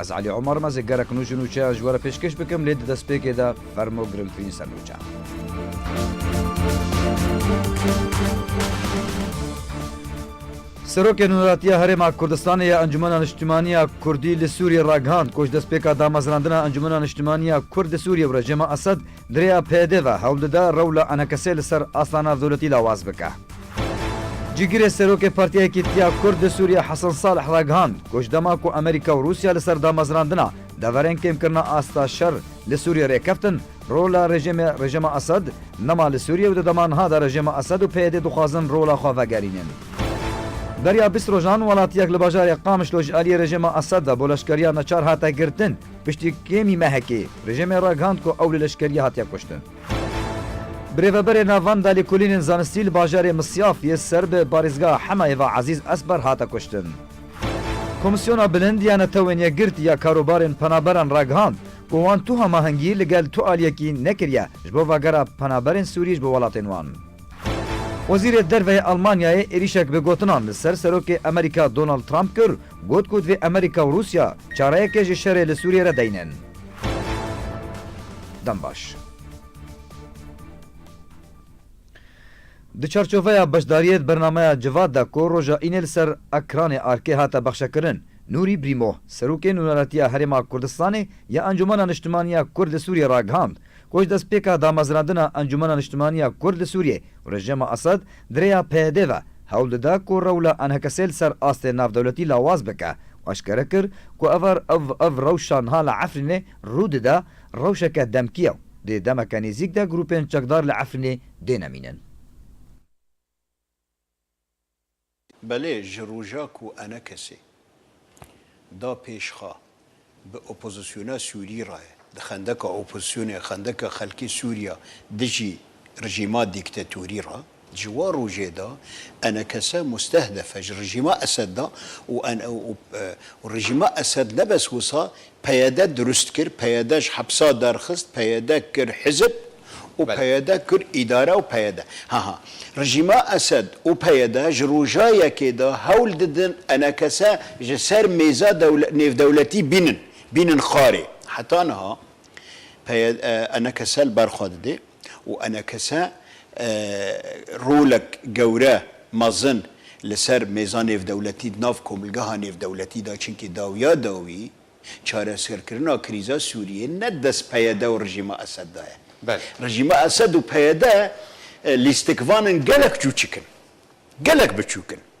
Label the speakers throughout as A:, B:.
A: Ez Elî Omar me zê gerek nû ji nûçeyan ji we re pêşkêş bikim lê di destpêkê de fermo girngtirîn ser nûçe. Serokê Nûneratiya Herêma Kurdistanê ya Encûmena Niştimanî ya Kurdî li Sûriyê ragihand ku ji destpêka damezrandina Encûmena Niştimanî ya Kurd li Sûriyê û rejîma Esed Di rêya PYD ve hewl dide rewla enekesê li ser aslana dewletî lawaz bike. Cîgirê serokê Partiya Yekîtiya Kurd di Sûriyê Hesen Salih ragihand ku ji dema ku Amerîka û Rûsya li ser damezrandina deverên kêmkirina asta şer li Sûriyê rêkeftin, rola rejîmê Rejîma Esed nema li Sûriyê û di dema niha de rejîma Esed û PYD dixwazin rola xwe vegerînin. Beriya bîst rojan welatiyek li bajarê Qamişlo ji aliyê rejîma Esed ve bo leşkeriya neçar hate girtin. Piştî kêmî mehekê, rejîmê ragihand ku ew li leşkeriyê hatiye kuştin. Birêveberê Navenda Lêkolînên Zanistî li bajarê Misyaf yê ser bi parêzgeha Henayê ve Ezîz Esber hate kuştin. Komîsyona Bilind ya Netewên Yekgirtî ya Karobarên Penaberan ragihand ku wan tu hamahengî li gel tu aliyekî nekiriye ji bo vegera penaberên Sûrî ji bo welatên wan. Wezîrê Derve yê Elmanyayê êrîşek bi gotinan li ser Serokê Amerîka Donald Trump kir Got ku divê Amerîka û Rûsya çareyekê ji şerê li Sûriyê re deynin. Dembaş. Di çarçoveya beşdariyê di bernameya Civat de ku roja Înê li ser ekranê ARK'ê hate bexşekirin, Nûrî Brîmo, Serokê Nûneretiya Herêma Kurdistanê ya Encûmena Niştimaniya Kurd li Sûriyê ragihand Roj destpêka damezrandina Encûmena Niştimanî ya Kurd li Sûriyê û rejîma Esad di rêya PYD ve hewl dide ku rewla enhekesê li ser astê navdewletî lawaz bike û eşkere kir ku evar ev ev rewşa niha li Efrînê rû dide rewşeke demkî ye û di demeke nêzîk de grûpên çekdar li Efrînê dêne mînin.
B: Belê ji roja ku Enekesê da pêşxa bi opozisyona Sûrî re ye, di xendeka opozisyonê, xendeka xelkê Sûriya dijî rijîma dîktetorî re, ji wan rojê de Enekese mustehdefe ji rijîma Esed de û û rijîma Esed nebes wisa PYD dirust kir, PYD ji hepsa derxist, PYD kir hizib û PYD kir îdare û PYD. Ha ha. Rejîma Esed û PYD ji roja yekê de hewl didin enekese ji ser mêza nêvdewletî bînin, bînin xarê. Heta niha PYD enekese li ber xwe didê. û enekese rolek gewre, mezin li ser mêza nêvdewletî di nav komilgeha nêvdewletî de çimkî dawiya dawî çareserkirina krîza Sûriyê ne dest PYD û rejîma Esed de ye. Rejîma Esed û PYD lîstikvan in gelek çûçik in, gelek biçûk in.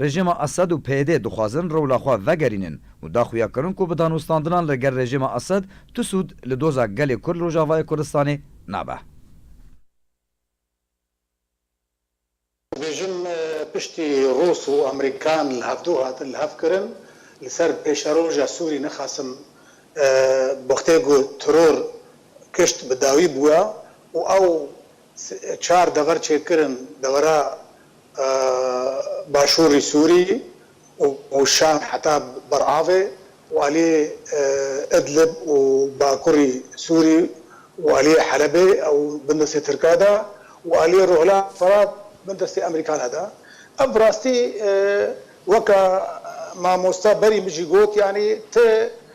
A: Rejîma Esed û PYD dixwazin rewla xwe vegerînin û da xuya kirin ku bi danûstandinan li gel rejîma Esed tu sûd li doza gelê Kurd li Rojavayê Kurdistanê nabe.
C: Dibêjin piştî Rûs û Amerîkan li hevdu hatin li hev kirin li ser pêşeroja Sûrî ne Qasim Boxtê got, Teror kişt bi dawî bûye û ew Çar dever çêkirin devera başûrî Sûrîyî û Şam heta Beravê û aliyê Idlib û bakurî Sûrî û aliyê Helebê ew bin destê Tirka de û aliyê Rojhilata Firat bin destê Emerîkana de. Ev bi rastî weke mamosta berî min jî got yanî ti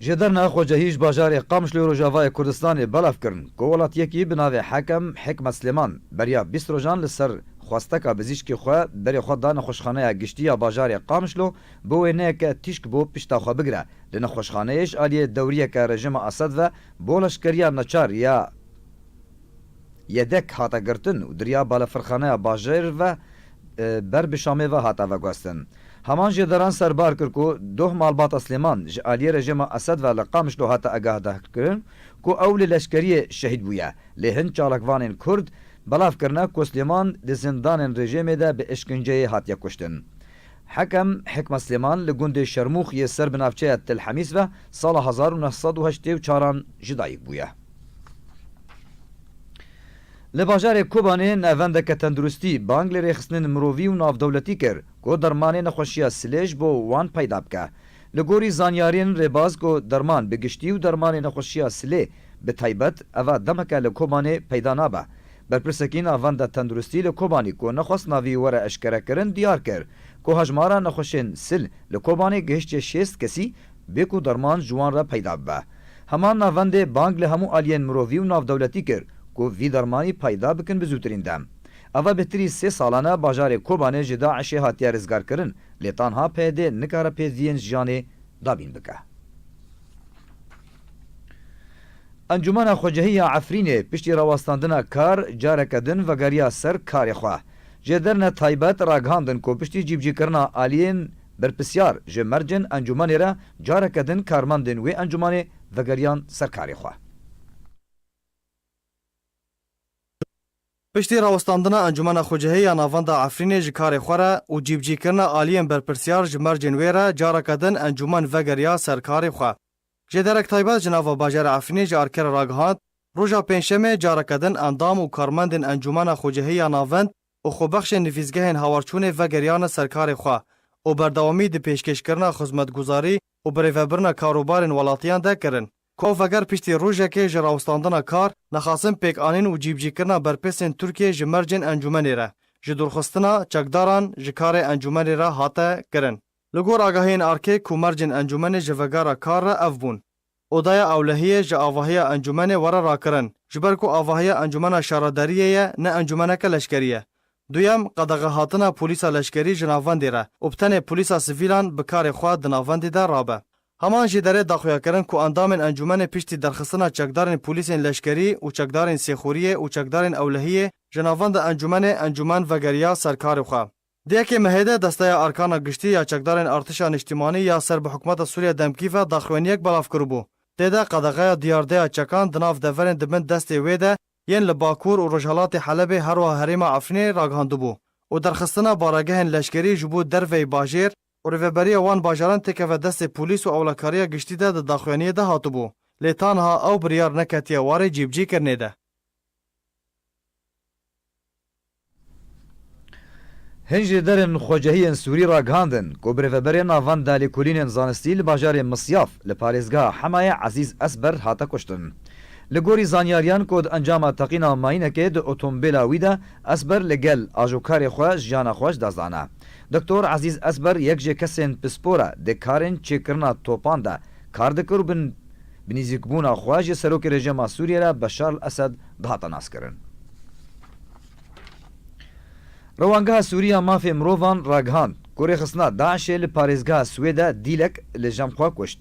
A: Ji derna xwecehî ji bajarê Qamş li rojavayê Kurdistanê belav kirin ku welatiyekî bi navê Hekem Hikmet Silêman beriya bîst rojan li ser xwesteka bizîşkî xwe berê xwe da nexweşxaneya giştî ya bajarê Qamişlo bo wê neyeke tîşk bo pişta xwe bigire di nexweşxaneyê ji aliyê dewriyeke rejima Esed ve bo leşkeriya neçar ya Yedek hate girtin û diriya balafirxaneya bajêr ve ber bi Şamê ve hate veguhestin. Heman jê deran serbar kir ku doh malbata Silêman ji aliyê rejîma Esed ve li Qamişlo hate agahdahkirin ku ew li leşkeriyê şehîd bûye. Lê hin çalakvanên kurd belav kirine ku Silêman di zindanên rejîmê de bi îşkinceyê hatiye kuştin. Hekem Hikma Silêman li gundê Şermûx yê ser bi navçeya Til Hemîs ve sala hezar û neh sed û heştê û çar an ji dayik bûye. Li bajarê Kobanê navendeke tenduristî bang li rêxistinên mirovî û navdewletî kir ku dermanê nexweşiya silêj bo wan peyda bike. Li gorî zanyariyên rêbaz ku derman bi giştî û dermanê nexweşiya silê bi taybet eva demeke li Kobanê peyda nabe. Berpirsekî navenda tenduristî li Kobanî ku nexwest navî were eşkerekirin diyar kir ku hejmara nexweşên sil li Kobanê gihiştiye şêst kesî bê ku derman ji wan re peyda bibe. Hema navendê bang li hemû aliyên mirovî û navdewletî kir ku vî dermanî peyda bikin bi zûtirîn dem. Eva bêhtirî sê salan e bajarê Kobanê ji DAIŞ'ê hatiye rizgarkirin lê tanha PYD nikare pêdiviyên jiyanê dabîn bike. Encûmena Xwecehî ya Efrînê piştî rawestandina kar careke din vegeriya ser karê xwe. Jêderine taybet ragihandin ku piştî cîbicîkirina aliyên Berpirsyar ji mercên encûmanê re careke din karmendên wê encûmanê vegeriyan ser karê xwe.
D: Piştî rawestandina Encûmena Xwecihê ya Navenda Efrînê ji karê xwe re û cîbicîkirina aliyên berpirsyar ji mercên wê re careke din encûman vegeriya ser karê xwe. Ji derek taybet ji nava bajarê Efrînê ji ARK'ê re ragihand, roja pêncşemê careke din endam û karmendên Encûmena Xwecihê ya Navend û xwebexşên nivîsgehên hawarçûnê vegeriyane ser karê xwe û berdewamî di pêşkêşkirina xizmetguzarî û birêvebirina karûbarên welatiyan de kirin. Ku veger piştî rojekê ji rawestandina kar, nexasin pêkanîn û cîbicîkirina berpêsên Tirkiyê ji mercên encûmenê re, ji dûrxistina çekdaran ji karê encûmenê re hate kirin. Li gor agahiyên erkê ku mercên encûmenê ji vegera kar re ev bûn, Odaya Ewlehiyê ji avahiya encûmenê were rakirin, ji ber ku avahiya encûmena şaredariyê ye ne encûmeneke leşkerî ye. Duyem, qedexehatina polîsa leşkerî ji navendê re û bi tenê polîsa sivîlan bi karê xwe di navendê de rabe. Heman jî derê daxuyakirin ku endamên encûmenê piştî derxistina çekdarên polîsên leşkerî û çekdarên Sêxuriyê û çekdarên Ewlehiyê ji navenda encûmenê encûmen vegeriya ser karê xwe. Di yekê Mehê de Desteya Erkana Giştî ya Çekdarên Artêşa Nîştîmanî ya ser bi Hikûmeta Sûriya demkî ve daxuyaniyek belav kiribû. Tê de qedexeya diyardeya çekan di nav deverên di bin destê wê de yên li Bakur û Rojhilatê Helebê herwiha herêma Efrînê ragihandibû û derxistina baregehên leşkerî ji bo derveyî bajêr û rêveberiya wan bajaran têkeve destê polîs û ewlekariya giştî de di daxuyaniyê de hatibû lê tanha ew biryar neketiye warê cîbicî kirinê de.
A: Hin ji derên xwecehiyên Sûrî ragihandin ku birêveberê na van dalîkulînên zanistî li bajarê Misyaf li parêzgeha Hemayê Ezîz Esber hate kuştin. Li gorî zanyariyan ku di encama teqîna mayînekê di otombêla wî de Esber li gel ajokarê xwe jiyana xwe ji dest dane. Doktor Ezîz Esber yek ji kesên pispor e di karên çêkirina topan de kar dikir û bi bi nîzîkbûna xwe ji serokê rejîma Sûriyê re Beşar al-Esed dihate naskirin. Rewangeha Sûrî ya Mafê Mirovan ragihand ku rêxistina DAIŞ'ê li parêzgeha Swêde Dîlek li Jemxwe kuşt.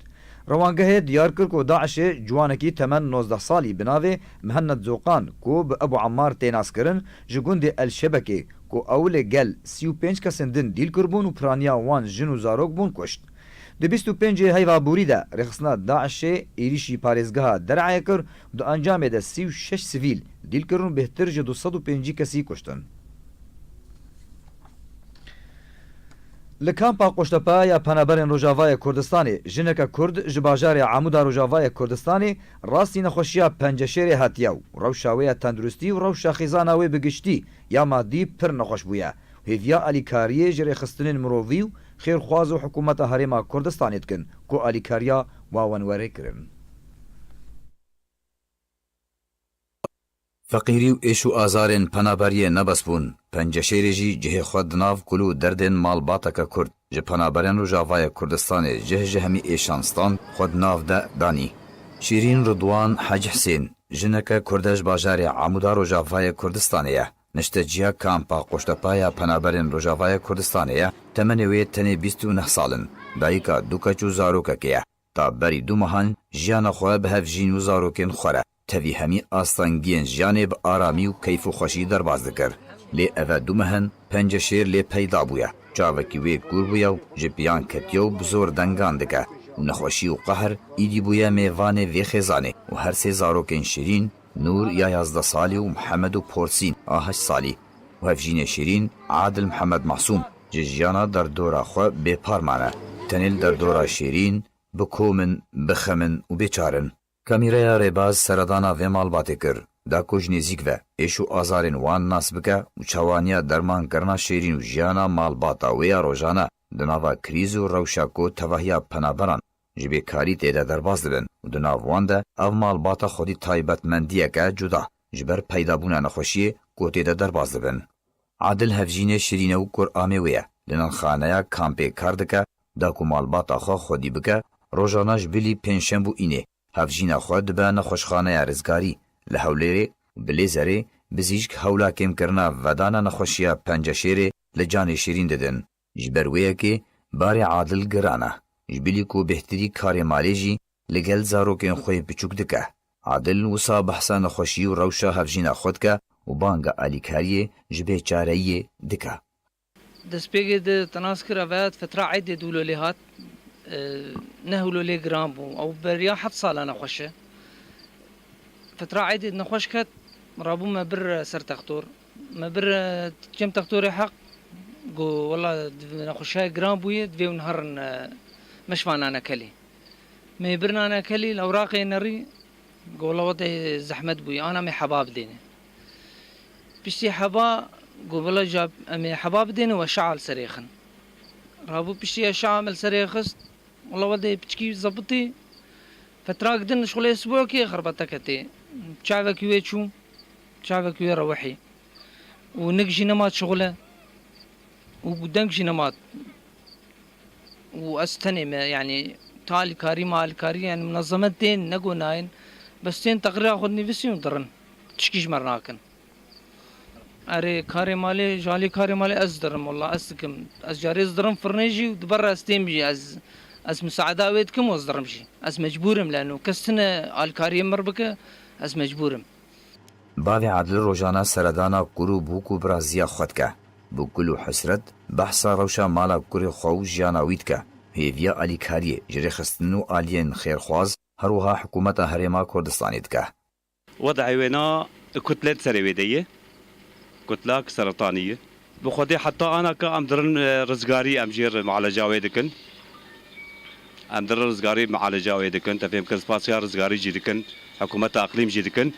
A: Rewangehê diyar kir ku DAIŞ'ê ciwanekî temen nozdeh salî bi navê Mihennet Zoqan ku bi Ebu Emmar tê naskirin ji gundê El Şebekê ku ew li gel sî û pênc kesên din dîl kiribûn û piraniya wan jin û zarok bûn kuşt. Di bîst û pêncê heyva borî de rêxistina DAIŞ'ê êrîşî parêzgeha Der'ayê kir û di encamê de sî û şeş sivîl dîl kirin û bêhtir ji du sed û pêncî kesî kuştin. Li kampa Qoştepe ya Penaberên Rojavayê Kurdistanê jineke Kurd ji bajarê Amûd a Rojavayê Kurdistanê rastî nexweşiya penceşêrê hatiye û rewşa wê ya tenduristî û rewşa xizana wê bi giştî ya madî pir nexweş bûye û hêviya alîkariyê ji rêxistinên mirovî û xêrxwaz û hikûmeta Herêma Kurdistanê dikin ku alîkariya wawenwerê kirin.
E: Feqîrî û êş û azarên penaberiyê ne bes bûn, penceşêrê jî cihê xwe di nav kul û derdên malbateke kurd ji penaberên Rojavayê Kurdistanê jih ji hemî êşan stand xwe di nav de danî. Şîrîn Ridwan Hacî Hisên, jineke kurde ji bajarê Amûda Rojavayê Kurdistanê ye. Nişteciya kampa Qoştepa ya penaberên Rojavayê Kurdistanê ye, temenê wê tenê bîst û neh sal in, dayika du keç û zarokekê ye. Ta berî du mehan jiyana xwe bi hev jîn û zarokên xwe re tevî hemî astengiyên jiyanê bi aramî û keyf û xweşî derbas dikir. Lê eve du mehan penceşêr lê peyda bûye, çavekî wê kûr bûye û ji piyan ketiye û bi zor dengan dike û nexweşî û qehr îdî bûye mêvanê vê xêzanê û her sê zarokên şîrîn Nûr ya yazdeh salî û Mihemed û Porsîn a heşt salî û hevjînê Şîrîn, Adil Mihemed Masûm ji jiyana derdora xwe bêpar mane. Tenê li derdora Şîrîn bi kom in, bi xem in û bêçar in. Kamîreya Rêbaz seredana vê malbatê kir, da ku ji nêzîk ve êş û azarên wan nas bike û çawaniya dermankirina Şîrîn û jiyana malbata wê ya rojane di nava krîz û rewşa ku tevahiya penaberan ji vê karî tê de derbas dibin û di nav wan de ev malbata xwedî taybetmendiyek e cuda ji ber peydabûna nexweşiyê ku tê de derbas dibin. Adil hevjînê şirîn e û kur amê wê ye. Di nanxaneya kampê kar dike, da ku malbata xwe xwedî bike, rojana ji bilî pêncşemb û înê hevjîna xwe dibe nexweşxaneya rizgarî li Hewlêrê û bi lêzerê bizîşk hewla kêmkirina vedana nexweşiya penceşêrê li canê şirîn didin. Ji ber wê yekê barê Adil giran e. Ji bilî ku bêhtirî karê malê jî li gel zarokên xwe yê piçûk dike. Adil wisa behsa nexweşî û rewşa hevjîna xwe dike û banga alîkariyê ji bêçareyiyê dike. Destpêkê
F: di Tanaskira Vedat Fetra Êdê dûlo lê hat. Nehûlo lê giran bû. Ew beriya heft sal e nexweş e. Fetra Êdê di nexweş ket, rabû me bir ser textor. Me bir Cem Textorê Heq got, Wela nexweşiyayê giran bûye, divê ew niha rin meşiba Nanekelê. Me yê bir Nanekelê li Ewraqê yê nerî, got, Wela wate zehmet bûye, ana em ê heba bidêne. Piştî heba got, Wela ja em ê heba bidêne we şi'a li serê xin. Rabû piştî ya şi'a me li serê xist, wela wate piçikî zebitî fetrak din li şolê sibokê xerbeteke tê, çavekî wê çû. Çavek wê re wehî û nik jî nema çixule û deng jî nema û ez tenê me yanî tu alîkarî me alîkarî yanî minezemet tên nego nayên bes tên teqrîra xwe dinivîsîn û dirin tişkî ji me re nakin. Erê karê malê ji alî karê malê ez dirim wela ez dikim ez carê ez dirim firinê jî û di ber re ez têm jî ez ez misaada wê dikim û ez dirim jî ez mecbûr im lano kes tune alîkariyê min re bike ez mecbûr im. Bavê
E: Edil rojane seredana kur û bûk û birazîya xwe dike. Bi gul û hesret behsa rewşa mala kurê xwe û jiyana wî dike. Hêviya alîkariyê, jêrêxistin û aliyên xêrxwaz her wiha hikûmeta Herêma Kurdistanê dike. Wedî wêna
G: kutlet serê wê de ye. Kutlak seretanî ye. Bi xwedê heta ana ka em dirin rizgarî em jê mieleca wê dikin. Em dirin rizgarî mieleca wê dikin. Te fêm bikir spasiya rizgarî jî dikin, hikûmeta iqlîm jî dikin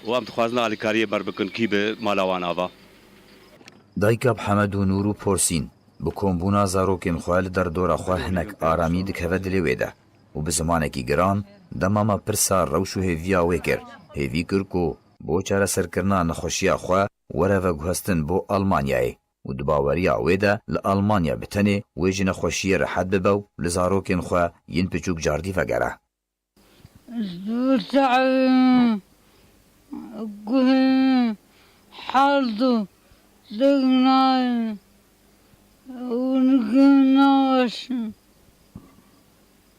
G: û em dixwazin alîkariyê ber bikin kî bi mala wan ava.
E: Dayika bi hemed û nûr û porsîn, bi kombûna zarokên xwe li derdora xwe hinek aramî dikeve dilê wê de û bi zimanekî giran dema me pirsa rewş û hêviya wê kir, hêvî kir ku bo çareserkirina nexweşiya xwe, were veguhestin bo Almanyayê û di baweriya wê de li Almanya bi tenê wê ji nexweşiyê rehet bibe û li zarokên xwe yên piçûk cardî vegere. Ez dûr çarim
H: guhên hard û dik nayên û nikê naweşin.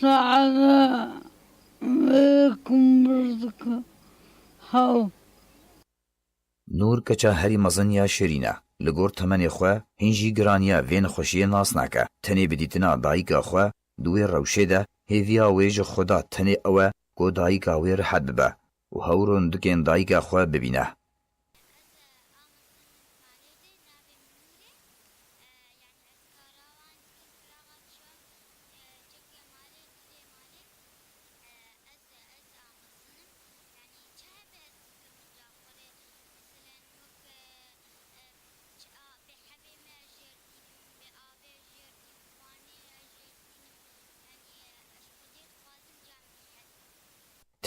H: Saeda wê ku mir dike hew.
E: Nûr keça herî mezin ya Şirîn e. Li gor temenê xwe hîn jî giraniya vê nexweşiyê nas nake. Tenê bi dîtina dayika xwe di wê rewşê de hêviya wê ji xwe da tenê ew e ku dayika wê rihet bibe. Û hewr û ndikên dayika xwe bibîne.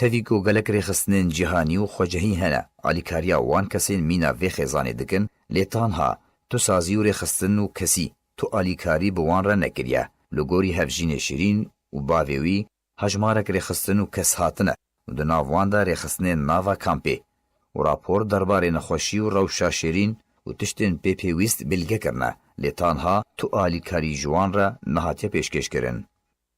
E: Tevî ku gelek rêxistinên cîhanî û xwecehî hene, alîkariya wan kesên mîna vê xêzanê dikin, lê tanha tu sazî û rêxistin û kesî tu alîkarî bi wan re nekiriye. Li gorî Hevjînê Şirîn û bavê wî hejmarek rêxistin û kes hatine û di nav wan de rêxistinên nava kampê û rapor derbarê nexweşî û rewşa Şirîn û tiştên pê pêwîst bîlge kirine, lê tanha tu alîkarî ji wan re nehatiye pêşkêşkirin.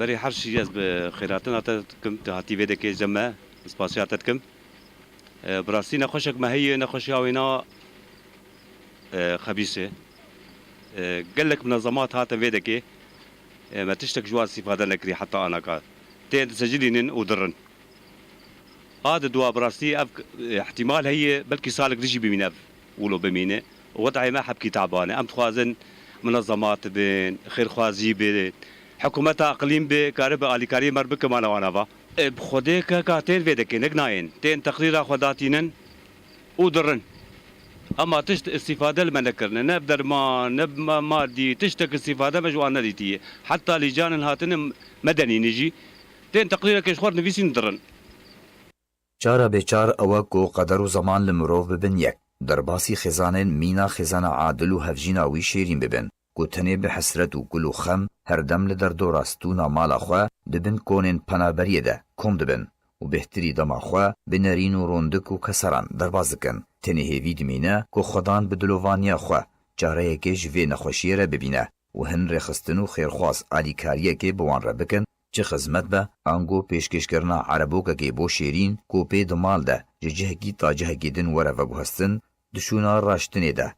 G: Berê her şî ez bi xêratina te dikim, tu hatî vê dekê cem me, ez spasiya te dikim. Bi rastî nexweşek me heye, nexweşiya wêna xebîs e. Gelek minezemat hatin vê dekê, me tiştek ji wan îstîfade nekiriye heta ana ka. Tên disecilînin û dirin. A di dua bi rastî ev îhtîmal heye belkî salek din jî bimîne ev Wilo bimîne wextê me hepkî taban e. Em dixwazin munezemat bin, xêrxwazî be, hikumeta iqlîm be karibe alîkariyê me re bike mala wan ava. Ê bi xwedê ke ka tên vê de kênek nayên, tên teqrîra xwe datînin û dirin. Hema tişt îstîfade li me nekirine. Ne bi derman, ne bi madî, tiştek îstîfade me ji wan nedîtiye. Heta lîcanên hatine medenînê jî tên teqrîrekê ji xwe re nivîsîn û dirin.
E: Çara bêçar ew e ku qeder û zeman li mirov bibin yek. Derbasî xêzanên mîna xêzana adil û hevjîna wî şêrîn bibin ku tenê bi hesret û kul û xem her dem li derdora stûna mala xwe di bin konên penaberiyê de kom dibin û bêhtirî dema xwe bi nerîn û rondik û keseran derbas dikin. Tenê hêvî dimîne ku xwedan bi dilovaniya xwe çareyekê ji vê nexweşiyê re bibîne û hin rêxistin û xêrxwaz alîkariyekê bi wan re bikin Çi xizmet be, ango pêşkêşkirina erebokekê bo şêrîn ku pê di mal de ji cihekî ta cihekî din were veguhestin, di şûna raştinê de,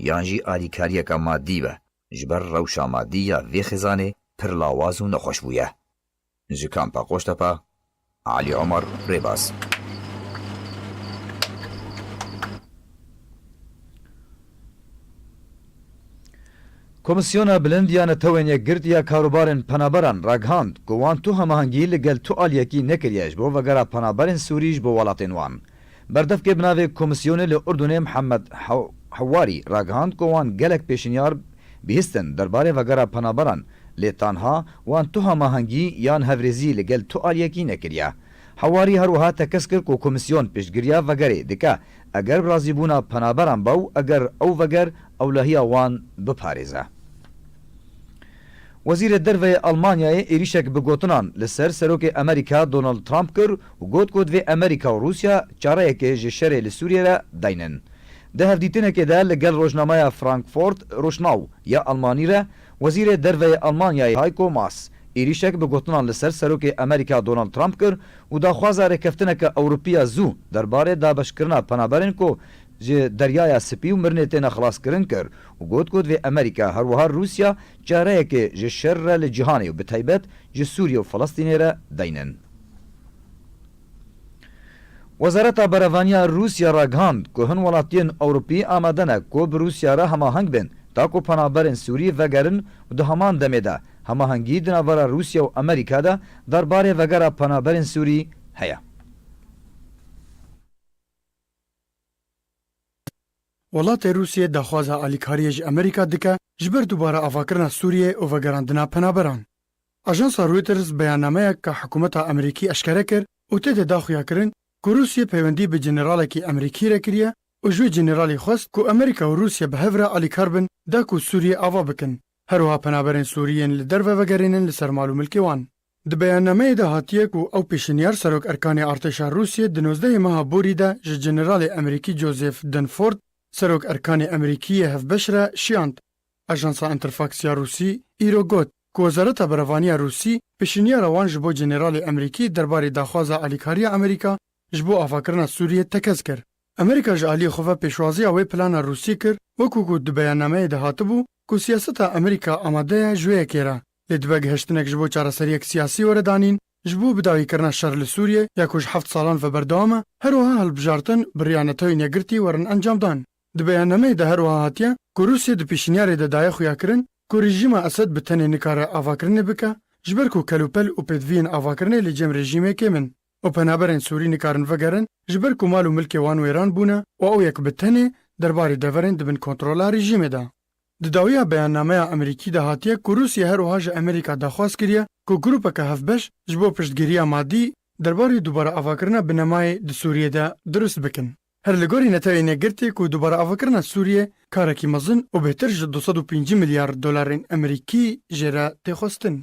E: yan jî alîkariyeke madî be, ji ber rewşa madî ya vê xêzanê pir lawaz û nexweş bûye. Ji Kampa Qoştepe, Alî Omar, Rêbaz.
A: Komîsyona Bilind ya Netewên Yekgirtî ya Karobarên Penaberan ragihand ku wan tu hemahengî li gel tu aliyekî nekiriye ji bo vegera penaberên Sûrî ji bo welatên wan. Berdevkê bi navê Komîsyonê li Urdunê Mihemed Hewarî ragihand ku wan gelek pêşinyar bihîstin derbarê vegera penaberan lê tanha wan tu hemahengî yan hevrêzî li gel tu aliyekî nekiriye. Hewarî her wiha tekez kir ku Komîsyon piştgiriya vegerê dike Eger bi razîbûna penaberan be û eger ew veger ewlehiya wan biparêze. Wezîrê Derveyê Elmanyayê êrîşek bi gotinan li ser Serokê Amerîka Donald Trump kir û got ku divê Amerîka û Rûsya çareyekê ji şerê li Sûriyê re daynin. Di hevdîtinekê de li gel rojnameya Frankfurt Rochnau ya Elmanî re Wezîrê Derveyê Elmanyayê Heiko Maas êrîşek bi gotinan li ser Serokê Amerîka Donald Trump kir û daxwaza rêkeftineke Ewropî ya zû derbarê dabeşkirina penaberên ku ji Deryaya Spî û Mirnê têne xilaskirin kir û got ku divê Amerîka her wiha Rûsya çareyekê ji şer re li cîhanê û bi taybet ji Sûriyê û Filistînê re beynin. Wezareta Berevaniya Rûsya ragihand ku hin welatiyên Ewropî amade ne ku bi Rûsya re hemaheng bên ta ku penaberên Sûrî vegerin û di heman demê de hemahengî di navbera Rûsya û Amerîka de derbarê vegera penaberên Sûrî heye.
I: Welatê Rûsyê daxwaza alîkariyê ji Amerîka dike ji ber dubare avakirina Sûriyê û vegerandina penaberan. Ajansa Reuters beyannameyek ka hikûmeta Amerîkî eşkere kir û tê de da xuyakirin ku Rûsyê peywendî bi Generalekî Amerîkî re kiriye û ji wê Generalî xwest ku Amerîka û Rûsye bi hev re alîkar bin da ku Sûriyê ava bikin herwiha penaberên Sûrî yên li derve vegerênin li ser mal û milkê wan. Di beyannameyê de hatiye ku ew pêşinyar Serok Erkanê Artêşa Rûsyê di nozdehê meha borî de ji Generalê Amerîkî Joseph Dunford, Serok Erkanê Amerîkî yê hevbeş re şiyand. Ajansa Interfax ya Rûsî îro got ku Wezareta Berevanî ya Rûsî pêşîniyara wan ji bo Generalê Emerîkî derbarê daxwaza alîkariya Emerîka ji bo avakirina Sûriyê tekez kir. Emerîka ji aliyê xwe ve pêşwaziya wê plana Rûsî kir wekû ku di beyannameyê de hatibû ku siyaseta Emerîka amade ye ji wê yekê re lê dibe gihiştinek ji bo çareseriyek siyasî were danîn ji bo bidawîkirina şer li Sûriyê ya ku ji heft salan ve berdewam e. Herwiha hilbijartin bi riya NATOyên Yekgirtî werin encamdan. Di beyannameyê de herwiha hatiye ku Rûsya di pêşîniyarê de daye xuyakirin ku rejîma Esed bi tenê nikare avakirinê bike ji ber ku kelûpel û pêdiviyên avakirinê li cem rejîmê kêm in û penaberên Sûrî nikarin vegerin ji ber ku mal û milkê wan wêran bûne û ew yek bi tenê derbarê deverên di bin kontrola rejîmê de. Di dawiya beyannameya Amerîkî de hatiye ku Rûsya herwiha ji Amerîka daxwaz kiriye ku grûpeke hevbeş ji bo piştgiriya madî derbarê dubare avakirina binemayê di Sûriyê de dirust bikin. Her li gorî neteweyê negirtê ku dubare avakirina Sûriyê karekî mezin û bêhtir ji du sed û pêncî milyar dolarên Emerîkî jê re tê xwestin.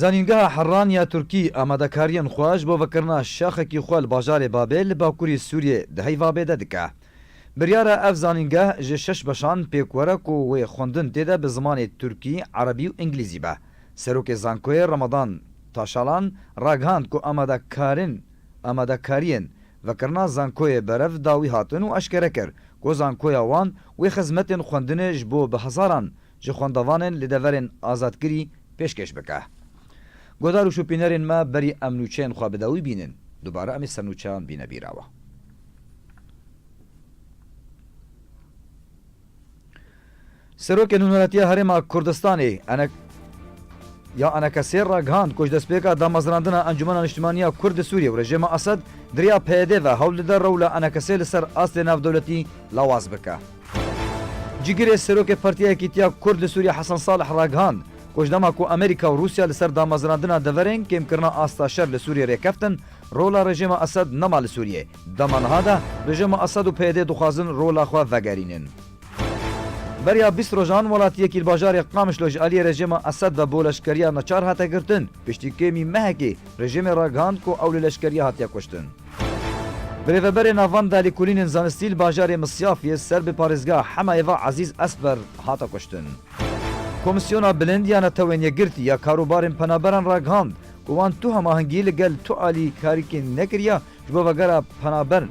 A: Zanîngeha Herran ya Tirkî amadekariyên xwe ji bo vekirina şaxekî xwe li bajarê Babê li bakurî Sûriyê di Heyvabê de dike. Biryar e ev zanîngeh ji şeş beşan pêk were ku wê xwendin tê de bi zimanê Tirkî, Erebî û Îngilîzî be. Serokê Zankoyê Ramadan Taşalan ragihand ku amadekarên amadekariyên vekirina zankoyê berev dawî hatin û eşkere kir ku zankoya wan wê xizmetên xwendinê ji bo bi hezaran ji xwendevanên li deverên azadkirî pêşkêş bike. Guhdar û şopînerên me berî em nûçeyên xwe bi dawî bînin, dubare em ê ser nûçeyan bîne bîrawa. Serokê Nûneretiya Herêma Kurdistanê ene ya enekesêr ragihand ku ji destpêka damezrandina Encûmena Niştimaniya Kurd li Sûriyê û rejîma Esed di riya PYD ve hewl dide rewla enekesê li ser astê navdewletî lawaz bike. Cîgirê Serokê Partiya Yekîtiya Kurd li Sûriyê Hesen Salih ragihand ku ji dema ku Amerîka û Rûsya li ser damezrandina deverên kêmkirina asta şer li Sûriyê rêkeftin rola rejîma Esed nema li Sûriyê. Dema niha de rejîma Esed û PYD dixwazin rola xwe vegerînin. Beriya bîst rojan welatiyê kîlbajarê Qamişlo ji aliyê rejîma Esed ve bo leşkeriya neçar hate girtin, piştî kêmî mehekê rejîmê ragihand ku ew li leşkeriyê hatiye kuştin. Bi rêveberê Navanda li kulînên zanistî li bajarê Misyafiyê ser bi parêzgeha Hemayê ve Ezîz Esber hate kuştin. Komîsyona Bilind ya Netewên Yekgirtî ya Karobarên Penaberan ragihand ku wan tu hemahengî li gel tu alî karîkên nekiriya ji bo vegera penaberin.